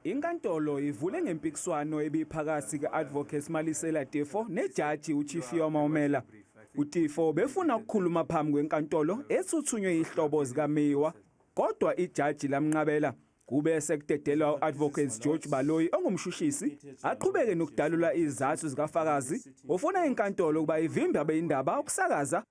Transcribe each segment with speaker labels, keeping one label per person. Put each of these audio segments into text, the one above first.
Speaker 1: Inkantolo ivule ngempikiswano ebiphakathi ke-Advocate Malisela Tefo nejaji uChifiwa Maumela. UTifo befuna ukukhuluma phambi kwenkantolo esuthunywe yihlobo zikaMeyiwa kodwa ijaji lamnqabela. Kube sekudedelwa u-Advocate George Baloyi ongumshushisi aqhubeke nokudalula izathu zikafakazi ofuna inkantolo ukuba ivimbe abeyindaba ukusakaza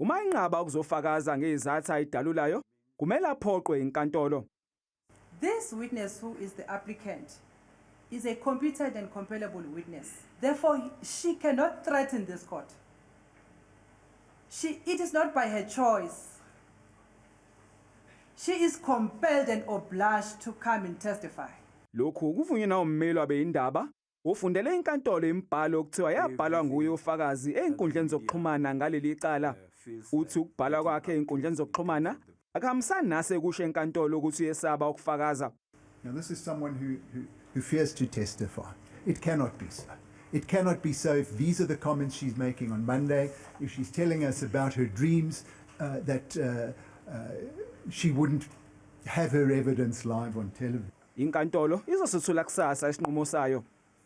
Speaker 1: Uma enqaba ukuzofakaza ngezathu ayidalulayo, kumele aphoqwe inkantolo. This
Speaker 2: witness who is the applicant is a competent and compellable witness. Therefore, she cannot threaten this court. She, it is not by her choice. She is compelled and obliged to come and testify. Lokhu kuvunywe
Speaker 1: nawummeli wabeyindaba Ufundele inkantolo imibhalo okuthiwa yabhalwa nguye ufakazi ezinkundleni zokuxhumana ngaleli cala. Uthi ukubhalwa kwakhe ezinkundleni zokuxhumana akuhambisani nase kusho enkantolo ukuthi uyesaba ukufakaza. Now this is
Speaker 3: someone who, who, who fears to testify. It cannot be so. It cannot be so if these are the comments she's making on Monday, if she's telling us about her dreams uh, that uh, uh, she wouldn't have her evidence
Speaker 1: live
Speaker 3: on
Speaker 1: television. Inkantolo
Speaker 3: izosethula kusasa
Speaker 1: isinqumo
Speaker 3: sayo.